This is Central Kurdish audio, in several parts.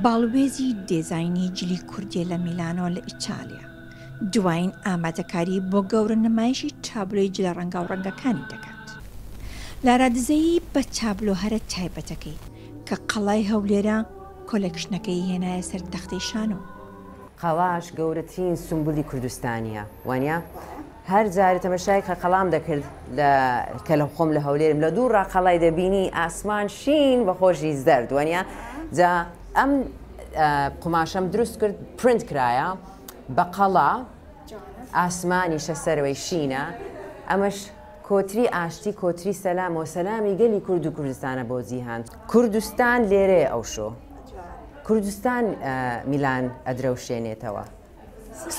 باڵوێزی دێزاینی جلی کوردییە لە میلانۆ لە ئیتالیا، دوایین ئامادەکاری بۆ گەورە نمایشی تابلۆی جلە ڕەنگاوڕەنگەکانی دەکات. لارا دزەیی بە تابلۆ هەرە تایبەتەکەی، کە قەڵای هەولێرە، کۆلێکشنەکەی هێنایە سەر تەختەی شانۆ. قەڵاش گەورەترین سومبولی کوردستانییە، وانیە؟ هەر جارە تەمەشای قەقەڵام دەکرد لە کە لە خۆم لە هەولێرم لە دوو ڕاقەڵای دەبینی ئاسمان شین بە خۆشی زەرد وەنیا جا ئەم قوماشەم دروست کرد پرنت کرایە بە قەڵا ئاسمانی شەسەرەوەی شینە ئەمەش کۆتری ئاشتی کۆتری سەلام و سەلامی گەلی کورد و کوردستانە بۆ جیهان کوردستان لێرەیە ئەو شۆ کوردستان میلان ئەدرەوشێنێتەوە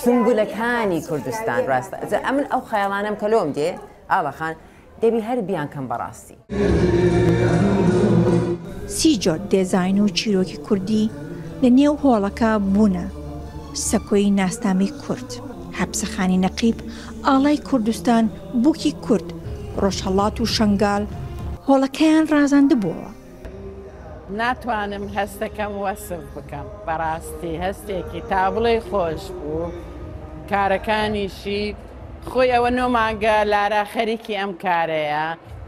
سونبولەکانی کوردستان راستە جا ئەمن ئەو خەیاڵانەم کە لۆم دێ ئاغا خان دەبی هەر بیان کەم بەڕاستی. سی جۆر دێزاین و چیرۆکی کوردی لە نێو هۆڵەکە بوونە سەکۆی ناسنامەی کورد. حەپسەخانی نەقیب، ئاڵای کوردستان، بووکی کورد، ڕۆژهەڵات و شەنگال هۆڵەکەیان ڕازاندبووەوە. ناتوانم هەستەکەم وەسف بکەم بەڕاستی هەستێکی تابڵێی خۆش بوو کارەکانیشی خۆی ئەوە نۆ مانگە لارا خەریکی ئەم کارەیە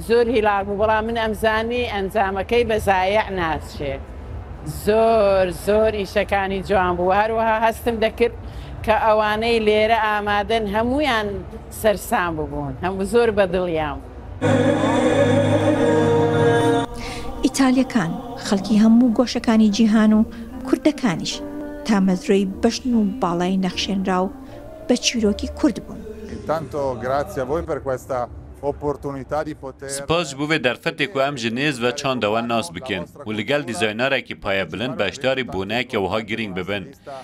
زۆر هیلاک بوو بەڵام من ئەمزانی ئەنجامەکەی بەزایع ناچێ زۆر زۆر ئیشەکانی جوان بوو هەروەها هەستم دەکرد کە ئەوانەی لێرە ئامادەن هەمویان سەرسام ببوون هەموو زۆر بەدڵیان بوو. ئیتالیەکان خەڵکی هەموو گۆشەکانی جیهان و کوردەکانیش تامەزرۆی بەژن و باڵای نەخشێنراو بە چیرۆکی کورد بوون. سپاس بۆ ڤێ دەرفەتێک و ئەم ژنێز ڤە چاندەوە ناس بکێن و لگەل دیزاینارەکی پایە بلند بەشداری بونە کە وەها گرینگ ببن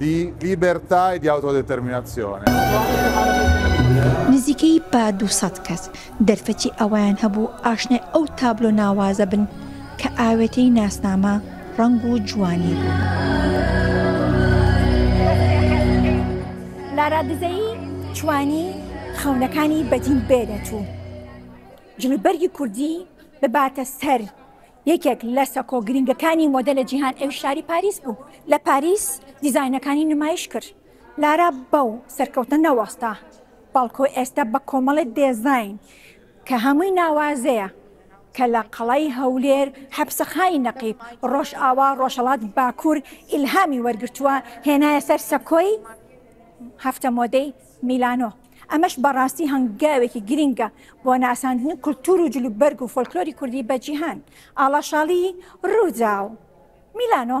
دی لیبێرتای دی ئاوتۆدێتێرمیناسیۆنێ. نزیکەی بە دوو سەد کەس دەرفەتی ئەوەیان هەبوو ئاشنای ئەو تابلۆ ناوازە بن کە ئاوێتەی ناسنامە، ڕەنگ و جوانی بوو. لارا دزەیی توانی خەونەکانی بەدی بێنێت و جلوبەرگی کوردی بباتە سەر یەکێک لە سەکۆ گرینگەکانی مۆدە لە جیهان ئەویش شاری پاریس بوو، لە پاریس دیزاینەکانی نمایش کرد. لارا بەو سەرکەوتنە نەوەستا، بەڵکو ئێستا بە کۆمەڵێ دێزاین کە هەمووی ناوازەیە کە لە قەڵای هەولێر، حەپسەخانی نەقیب، ڕۆژئاوا، ڕۆژهەڵات، باکور ئیلهامی وەرگرتووە هێنایە سەر سەکۆی هەفتە مۆدەی میلانۆ، ئەمەش بەڕاستی هەنگاوێکی گرینگە بۆ ناساندنی کولتوور و جلوبەرگ و فۆلکلۆری کوردی بە جیهان، ئاڵاشاڵیی رووداو، میلانۆ.